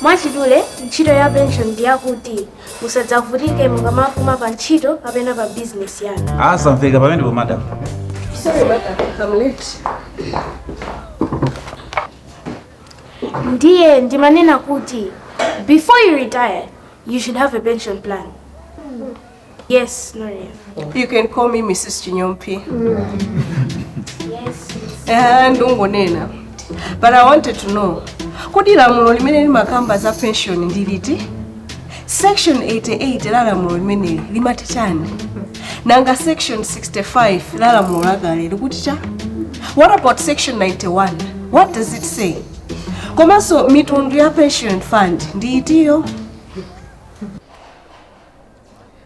mwachidule ntchito ya pension ndi yakuti musadzavutike mukamapuma pa ntchito kapena pa bizinesi yanu zikumveka pamenepo madam Sorry, madam. I'm late. ndiye ndimanena kuti before you retire you should have a pension plan yes Gloria. you can call me mrs chinyompi Eh, ndikungonena but i wanted to know kodi lamulo limene limakamba za pension ndi liti section 88 la lamulo limeneli limati chani nanga section 65 la lamulo lakale likuti chani what about section 91 what does it say komanso mitundu ya pension fund ndi itiyo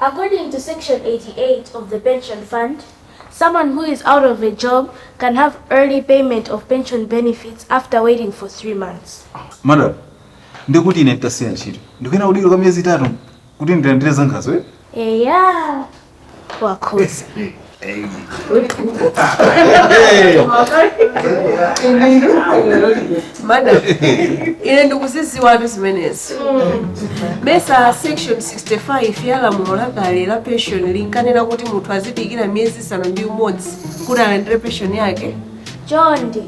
According to section 88 of the pension fund, someone who is out of a job can have early payment of pension benefits after waiting for three months. madam ndikuti ine nditasiya ntchito ndikuyenera kudikira kwa miyezi itatu kuti ndilandire zangazo eh? Eya, wakhoza madam ine ndikuzidziwatu zimenezi mesa section 65 ya lamulo lakale la pension linkanena kuti munthu azidikira miyezi isanu ndi umodzi kuti alandire pension yake chonde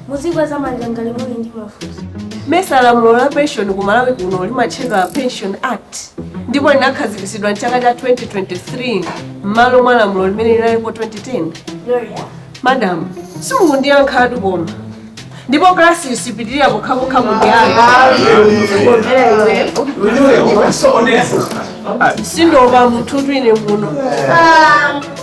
muzikweza manja ngati muli ndi mafunso mesa lamulo la pension ku malawi kuno limatchedwa pension act ndipo linakhazikitsidwa mchaka cha 2023 m'malo mwa lamulo limene linalipo 2010 gloria madam simukundiyankhatu koma ndipo klasi sipitirira pokhapokha mundiyankhe sindiopa munthutu ine muno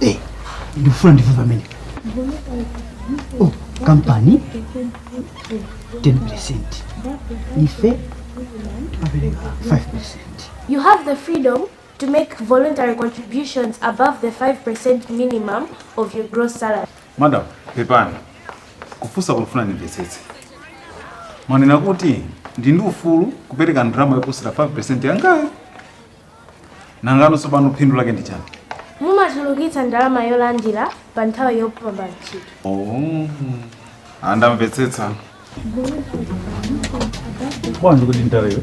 Eh, ndifuna ndimve pamenepo oh, kampani 10 percent ife timapereka 5 percent You have the freedom to make voluntary contributions above the 5% minimum of your gross salary. madam pepani kufunsa ndikufuna ndimvetsetse mwanena kuti ndili ndi ufulu kupereka ndalama yoposera 5 percent yangayo Nangano tsopano phindu lake ndi chani? Mumachulukitsa ndalama yolandira pa nthawi yopuma pa ntchito. Oh. Ah ndamvetsetsa. Bwanji kuti ndalewe?